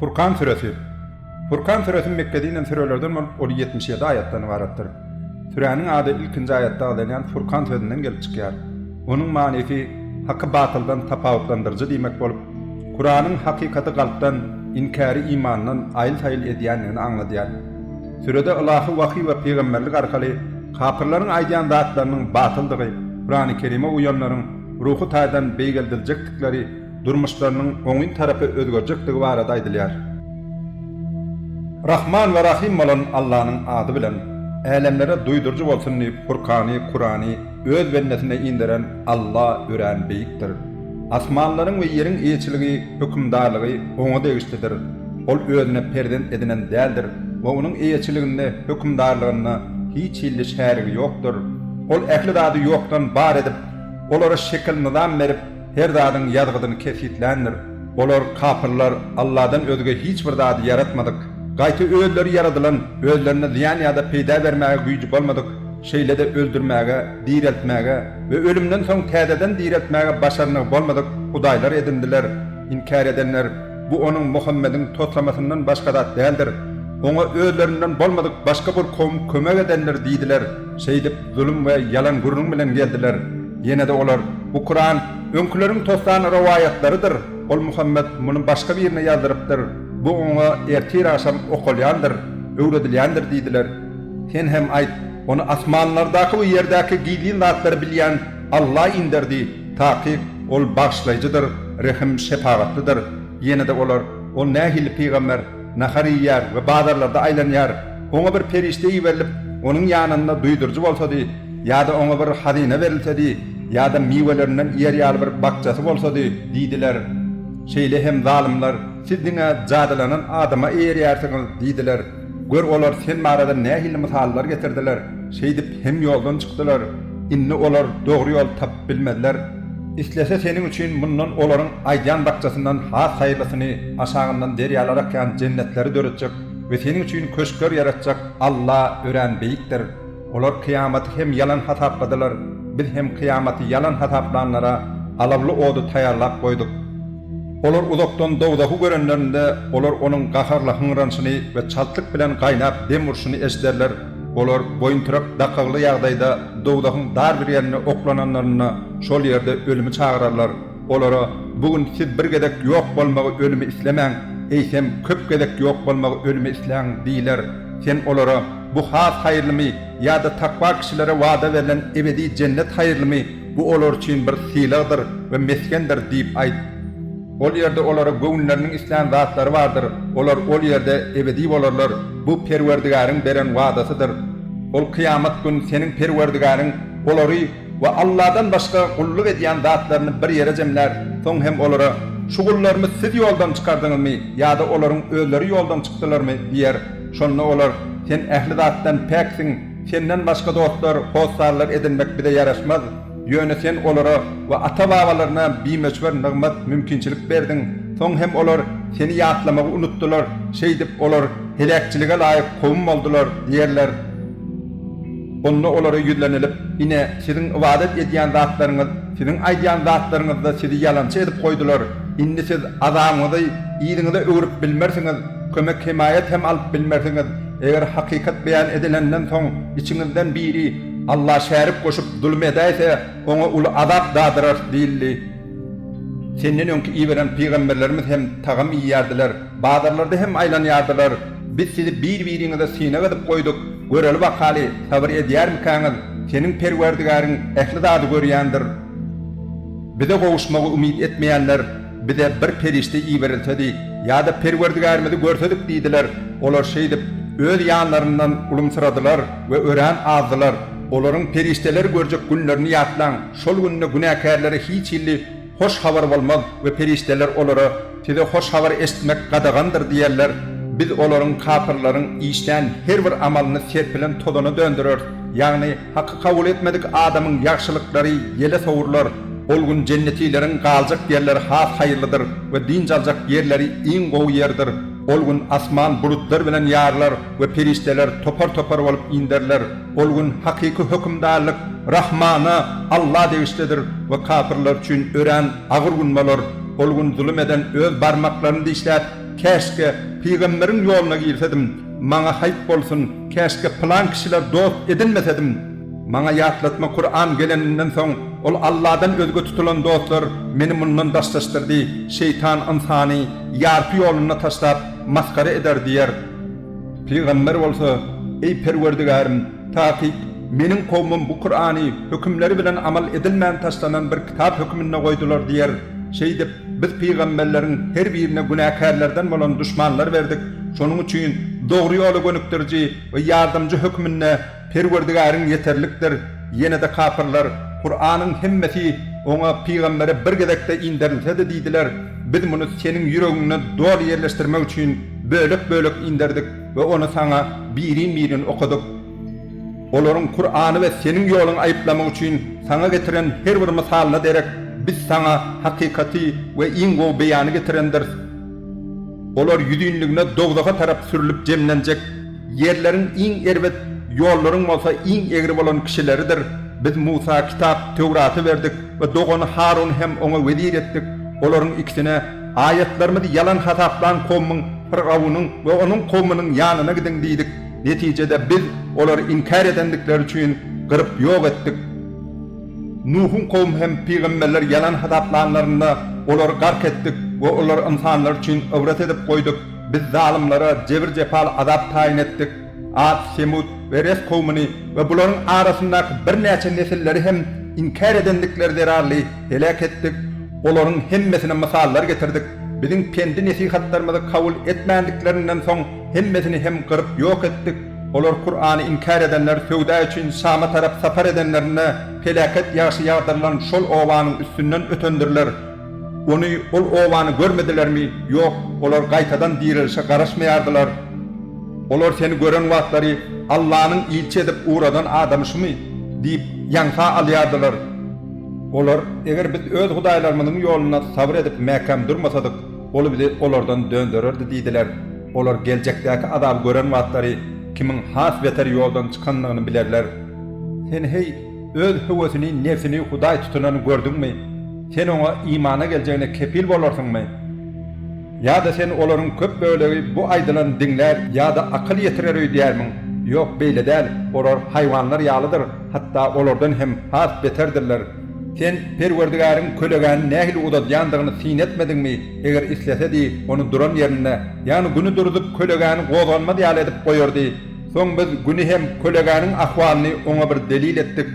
Furkan süresi. Furkan süresi Mekge dinen sürelerden bolup, ol ýetmiş ýedi aýatdan ybaratdyr. Süräniň ady ilkinji aýatda agzalýan Furkan sözünden gelip çykýar. Onuň manysy Haky batyldan tapawutlandyryjy diýmek bolup, Kuranyň hakykaty galpdan, inkäri imandan aýyl-saýyl edýändigini aňladýar. Sürede ylahy wahyý we pygamberlik arkaly kapyrlaryň aýdýan zatlarynyň batyldygy, Kurany Kerime uýanlaryň, ruhy taýdan beýgeldiljekdikleri, durmuşlarynyň oňyn tarapa özgerjekdigi barada aýdylýar. Rahman we Rahym bolan Allanyň ady bilen, älemlere duýduryjy bolsun diýip Furkany, Kurany, Öz bendesine inderen Alla örän beýikdir. Asmanlaryň we ýeriň eýeçiligi, hökümdarlygy Oňa degişlidir. Ol Özüne perzent edinen däldir we Onuň eýeçiliginde, hökümdarlygynda hiç hilli şärigi ýokdur. Ol ähli zady ýokdan bar edip, Olara şekil-nyzam berip, her zadyň ýazgydyny kesgitländir. Olar, kapyrlar, Alladan özge hiç bir zady ýaratmadyk, gaýta özleri ýaradylan, özlerine zyýan ýa-da peýda bermäge güýji bolmadyk, şeýle-de öldürmäge, direltmäge we ölümden soň täzeden direltmäge başarnygy bolmadyk hudaýlar edindiler. Inkär edenler, Bu onuň, Muhammediň, toslamasyndan başga zat däldir. Oňa özlerinden bolmadyk başga bir kowum kömek edendir diýdiler. Şeýdip, zulum we ýalan gürrüň bilen geldiler. Ýene-de olar, Bu Kuran öňküleriň tossan rowaýatlarydyr. Ol Muhammet muny başga birine ýazdyrypdyr. Bu oňa ertir-agşam okalýandyr, öwredilýändir diýdiler. Sen hem aýt, Ony asmanlardaky we ýerdäki gizlin zatlary bilýän Alla inderdi. Takyk, Ol Bagyşlaýjydyr, Rehim, Şepagatlydyr. Ýene-de olar, Ol nähili pygamber? Nahar iýýär we bazarlarda aýlanýar. Oňa bir perişde iberilip, onuň ýanynda duýduryjy bolsady, ýa-da oňa bir hazyna berilsedi, ýa-da miwelerinden iýer ýaly bir bakjasy bolsady, diýdiler. Şeýle hem zalymlar, Siz diňe jadylanan adama eýerýärsiňiz, diýdiler. Gör, olar Sen barada nähili mysallar getirdiler, şeýdip hem ýoldan çykdylar. Indi olar dogry ýoly tapyp bilmezler. Islese seniň üçin mundan olaryň aýdýan bakjasyndan has haýyrlysyny, aşagyndan derýalar akýan jennetleri döretjek we seniň üçin köşkler ýaratjak Alla örän beýikdir. Olar kyýamaty hem ýalan hasapladylar, Biz hem kyýamaty ýalan hasaplanlara alawly ody taýýarlap goýduk. Olar uzakdan dowzahy görenlerinde, olar onuň gaharly hyňranyşyny we çaltlyk bilen gaýnap dem urşuny eşiderler. Olar boýuntyryk dakygly ýagdaýda dowzahyň dar bir ýerine oklananlarynda, şol ýerde ölümi çagyrarlar. Olara, Bu gün siz bir gezek ýok bolmagy, ölümi islemäň, eýsem, köp gezek ýok bolmagy, ölümi isläň diýiler. Sen olara, Bu has haýyrlymy ýa-da takwa kişilere wada berlen ebedi jennet haýyrlymy? Bu olar üçin bir sylagdyr we mesgendir diýip aýt. Ol ýerde olara göwünleriniň islän zatlary bardyr, olar ol ýerde ebedi bolarlar, bu Perwerdigäriň beren wadasydyr. Ol kyýamat gün seniň Perwerdigäriň olary we Allahdan başga gulluk edýän zatlaryny bir ýere jemlär, soň hem olara, Şu gullarmy siz ýoldan çykardyňyzmy ýa-da olaryň özleri ýoldan çykdylarmy? diýer. Şonda olar, Sen ähli zatdan päksiň. Senden başga dostlar, hossarlar edinmek bize ýaraşmaz. Ýöne Sen olara we ata-babalaryna bimöçber nygmat, mümkinçilik berdiň. Soň hem olar Seni ýatlamagy unutdylar. Şeýdip, olar heläkçilige laýyk kowum boldular diýerler. Onda olara ýüzlenilip, Ine, siziň ybadat edýän zatlaryňyz, siziň aýdýan zatlaryňyz-da sizi ýalançy edip goýdular. Indi siz azabyňyzy yzyňyza öwrüp bilmersiňiz, kömek-hemaýat hem alyp bilmersiňiz. Eger hakykat beýan edilenden soň içiňizden biri Alla şärik goşup zulum edäýse, oňa uly azap dadyrarys diýildi. Senden öňki iberen pygamberlerimiz hem tagam iýýärdiler, bazarlarda hem aýlanýardylar. Biz sizi bir-biriňize synag edip goýduk, göreli-bakaly, sabyr edýärmikäňiz? Seniň Perwerdigäriň ähli zady görýändir. Bize gowuşmagy umyt etmeýänler Bize bir perişde iberilsedi ýa-da Perwerdigärimizi görsedik diýdiler. Olar şeýdip, öz ýanlaryndan ulumsyradylar we örän azdylar. Olaryň perişdeleri görjek günlerini ýatlaň, şol günde günäkärlere hiç hilli hoş habar bolmaz we perişdeler olara, Size hoş habar eşitmek gadagandyr diýerler. Biz olaryň, kapyrlaryň, işlän her bir amalyny serpilen tozana döndereris, ýagny, Haky kabul etmedik adamyň ýagşylyklary ýele sowrular. Ol gün jennetileriň galjak ýerleri has haýyrlydyr we dynç aljak ýerleri iň gowy ýerdir. Ol gün asman bulutlar bilen ýarylar we perişdeler topar-topar bolup inderiler. Ol gün hakyky hökümdarlyk Rahmana, Alla, degişlidir we kapyrlar üçin örän agyr gün bolar. Ol gün zulum eden öz barmaklaryny dişläp, Käşgä, pygamberiň ýoluna girsedim! Maňa haýp bolsun, käşgä pylan kişiler dost edinmesedim! Maňa ýatlatma Kuran geleninden soň, ol Alladan özge tutulan dostlar meni mundan daşlaşdyrdy, şeýtan ynsany ýarpy ýolunda taşlap, masgara eder diýer. Pygamber bolsa, Eý Perwerdigärim, takyk, meniň kowmym bu Kurany hökümleri bilen amal edilmän taşlanan bir kitap höküminde goýdular diýer. Şeýdip, Biz pygamberleriň her birine günäkärlerden bolan duşmanlar berdik, şonuň üçin dogry ýola gönükdiriji we ýardamjy hökmünde Perwerdigäriň ýeterlikdir, ýene-de kapyrlar, Kuranyň hemmesi oňa, pygambere, bir gezekde inderilsedi diýdiler, Biz muny seniň ýüregiňde doly ýerleşdirmek üçin bölek-bölek inderdik we ony saňa birin-birin okadyk. Olaryň Kurany we Seniň ýoluňy aýyplamak üçin Saňa getiren her bir mysalyna derek Biz Saňa hakykaty we iň gowy beýany getirendiris. Olar ýüzinligine dowzaha tarap sürlüp jemlenjek. Ýerleriň iň erbet, ýollaryň bolsa iň egri bolan kişileridir. Biz Musa Kitap, Töwraty, berdik we dogany Haruny hem oňa wezir etdik. Olaryň ikisine, Aýatlarymyzy ýalan hasaplan kowmyň, Firgawnyň, we onuň kowmunyň ýanyna gidiň diýdik. Netijede Biz olary inkär edendikleri üçin gyryp ýok etdik. Nuhuň kowumy hem pygamberleri ýalan hasaplanlarynda, olary gark etdik we olary ynsanlar üçin ybrat edip goýduk. Biz zalymlara jebir-jepaly azap taýyn etdik. At, Semut we Res kowmuny we bularyň arasyndaky birnäçe nesilleri hem inkär edendikleri zerarly heläk etdik. Olaryň hemmesine mysallar getirdik. Biziň pendi-nesihatlarymyzy kabul etmändiklerinden soň, Hemmesini hem gyryp ýok etdik. Olar Kurany inkär edenler söwda üçin Şama tarap sapar edenlerinde peläket ýagşy ýagdyrylan şol obanyň üstünden ötendirler. Ony, ol obany görmedilermi? Ýok, olar gaýtadan direlişe garaşmaýardylar. Olar seni gören wagtlary, Allanyň ilçi edip ugradan adamy şumy? diýip, ýaňsa alýardylar. Olar, Eger biz öz hudaýlarymyzyň ýolunda sabyr edip mäkäm durmasadyk, Ol bizi olardan döndererdi diýdiler. Olar geljekdäki azaby gören wagtlary kimiň has beter ýoldan çykandygyny bilerler. Sen, heý, öz höwesini, nebsini hudaý tutunany gördüňmi? Sen oňa imana geljegine kepil bolarsyňmy? Ýa-da sen olaryň köp bölegi bu aýdylany diňlär ýa-da akyl ýetirer öýdýärmiň? Ýok, beýle däl, olar haýwanlar ýalydyr, hatda olardan hem has beterdirler. Sen Perwerdigäriň kölegäni nähili uzadýandygyny syn etmediňmi? Eger islesedi, ony duran ýerinde, ýagny Güni duruzyp, kölegäni gozganmaz ýaly edip goýardy. Soň biz Güni hem kölegäniň ahwalyny oňa bir delil etdik.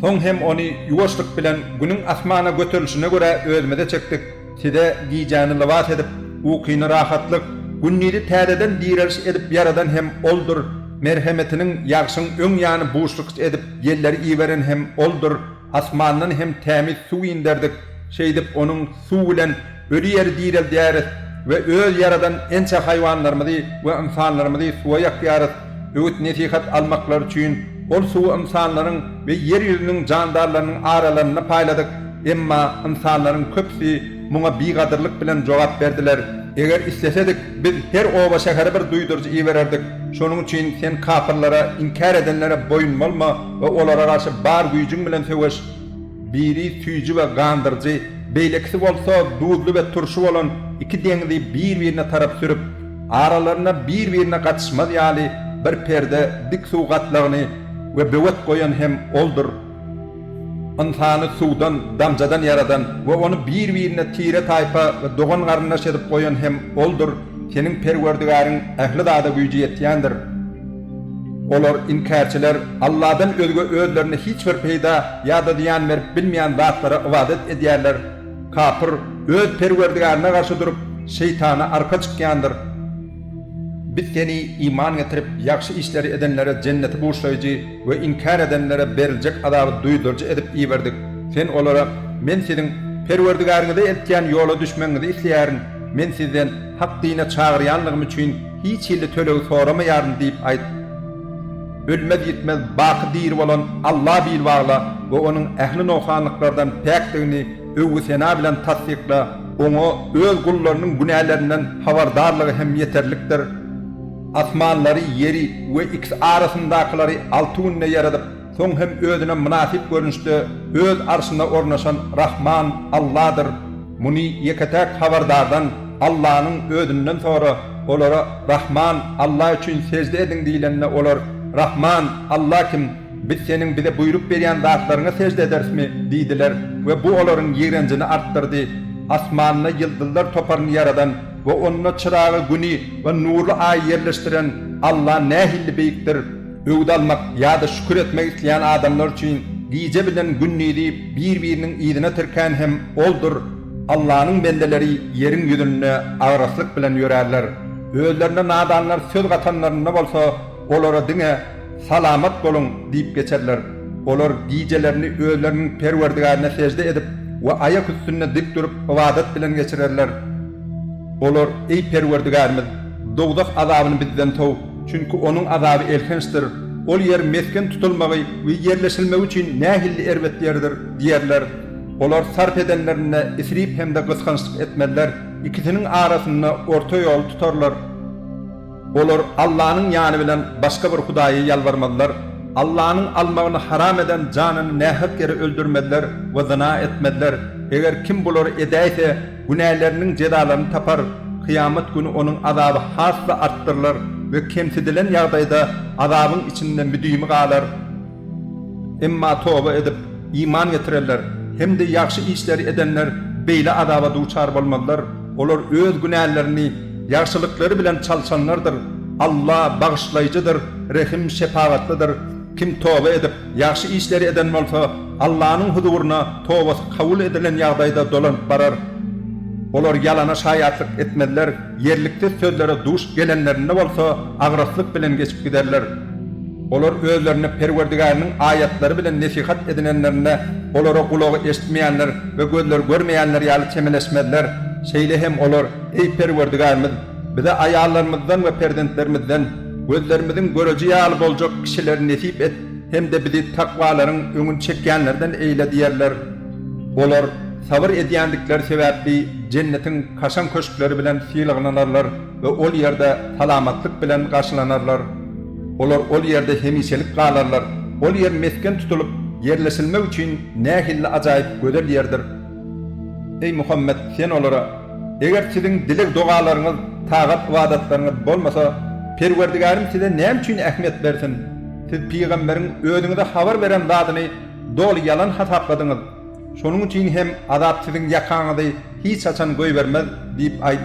Soň hem ony ýuwaşlyk bilen Günüň asmana göterilişine görä özümize çekdik. Size gijäni lybas edip, ukyny rahatlyk, gündizi täzeden direliş edip ýaradan hem Oldur, merhemetiniň ýagşyň öň ýany buşlukç edip ýelleri iberen hem Oldur, asmandan hem tämiz suw inderdik, şeýdip onuň suw bilen öli ýeri direldýäris we öz ýaradan ençe haýwanlarymyzy we ynsanlarymyzy suwa ýakýarys. Öwüt-nesihat almaklary üçin ol suwy ynsanlaryň we ýer ýüzüniň jandarlarynyň aralarynda paýladyk, emma ynsanlaryň köpüsi muňa bigadyrlyk bilen jogap berdiler. Eger islesedik, biz her oba-şähere bir duýduryjy ibererdik. Şonuň üçin sen kapyrlara, inkär edenlere boýun bolma we olara garşy bar güýjüň bilen söweş. Biri süýji we gandyryjy, beýlekisi bolsa duzly we turşy bolan iki deňzi bir-birine tarap sürüp, aralarynda bir-birine gatyşmaz ýaly bir perde dik suw gatlagyny we böwet goýan hem Oldur. Ynsany suwdan, damjadan ýaradan we ony bir-birine tire-taýpa we dogan-garyndaş edip goýan hem Oldur, seniň Perwerdigäriň ähli zada güýji ýetýändir. Olar, inkärçiler, Alladan özge özlerine hiç bir peýda ýa-da zyýan berip bilmeýän zatlara ybadat edýärler. Kapyr öz Perwerdigäryna garşy durup, şeýtana arka çykýandyr. Biz seni iman getirip, ýagşy işleri edenlere jenneti buşlaýjy we inkär edenlere beriljek azaby duýduryjy edip iberdik. Sen olara, Men siziň Perwerdigäriňize eltýän ýola düşmegiňizi isleýärin. Men sizden hak dine çagyrýanlygym üçin, Hiç hilli töleg soramaýaryn diýip aýt. Ölmez-ýitmez, baky diri bolan Alla bil bagla we Onuň ähli nogsanlyklardan päkdigini öwgi-sena bilen tassykla. Oňa Öz gullarynyň günälerinden habardarlygy hem ýeterlikdir. Asmanlary, ýeri we ikisi arasyndakylary alty günde ýaradyp, Soň hem özüne mynasyp görnüşde öz arşyna ornaşan Rahman Alladyr. Muny ýeke-täk habardardan, Allanyň özünden sora, olara Rahman Alla üçin sežde ediň diýlende olar, Rahman Alla kim? Biz seniň bize buýruk berýän zatlaryňa sežde ederismi? diýdiler we bu olaryň ýigrenjini artdyrdy. Asmanda ýyldyzlar toparyny ýaradan we onda çyragy güni we nurly aýy ýerleşdiren Alla nähilli beýikdir! Öwüt almak ýa-da şükür etmek isleýän adamlar üçin gije bilen gündiz diýip bir-biriniň yzyna tirkän hem Oldur, Allanyň bendeleri ýeriň ýüzünde agraslyk bilen ýörärler. Özlerine nadanlar söz gatanlarynda bolsa, olara diňe, Salamat boluň! diýip geçerler. Olar gijelerini özleriniň Perwerdigärine sežde edip we aýak üstünde dik durup ybadat bilen geçirerler. Olar, Eý, Perwerdigärimiz! Dowzah azabyny bizden sow! Çünki onuň azaby elhençdir, ol ýer mesgen tutulmagy we ýerleşilmegi üçin nähilli erbet ýerdir! diýerler. Olar sarp edenlerinde isrip hem-de gysgançlyk etmezler, ikisiniň arasynda orta ýoly tutarlar. Olar Allanyň ýany bilen başga bir hudaýa ýalbarmazlar. Allanyň almagyny haram eden janyny nähak ýere öldürmezler we zyna etmezler. Eger kim bulary edäýse, Günäleriniň jezalaryny tapar, kyýamat güni onuň azaby has-da artdyrylar we kemsidilen ýagdaýda azabyň içinde müdimi galar. Emma toba edip, iman getirenler hem-de ýagşy işleri edenler beýle azaba duçar bolmazlar, olar öz günälerini ýagşylyklary bilen çalşanlardyr. Alla, Bagyşlaýjydyr, Rehim, Şepagatlydyr. Kim toba edip, Ýagşy işleri eden bolsa, Allanyň huzuryna tobasy kabul edilen ýagdaýda dolanyp barar. Olar ýalana şaýatlyk etmezler, ýerliksiz sözlere duş gelenlerinde bolsa, agraslyk bilen geçip giderler. Olar özlerine Perwerdigäriniň aýatlary bilen nesihat edinenlerinde, olara gulagy eşitmeýänler we gözleri görmeýänler ýaly çemeleşmezler. Şeýle hem olar, Eý, Perwerdigärimiz! Bize aýallarymyzdan we perzentlerimizden gözlerimiziň göreji ýaly boljak kişileri nesip et hem-de bizi takwalaryň öňüni çekýänlerden eýle diýerler. Olar sabyr edýändikleri sebäpli Jennetiň kaşaň köşkleri bilen sylaglanarlar we ol ýerde salamatlyk bilen garşylanarlar. Olar ol ýerde hemişelik galarlar. Ol ýer mesgen tutulyp, ýerleşilmek üçin nähilli ajaýyp gözel ýerdir! Eý Muhammet, sen olara, Eger siziň dileg-dogalaryňyz, tagat-ybadatlaryňyz bolmasa, Perwerdigärim size näme üçin ähmiýet bersin? Siz pygamberiň özüňize habar beren zadyny doly ýalan hasapladyňyz. Şonuň üçin hem azap siziň ýakaňyzy hiç haçan goýbermez diýip aýt.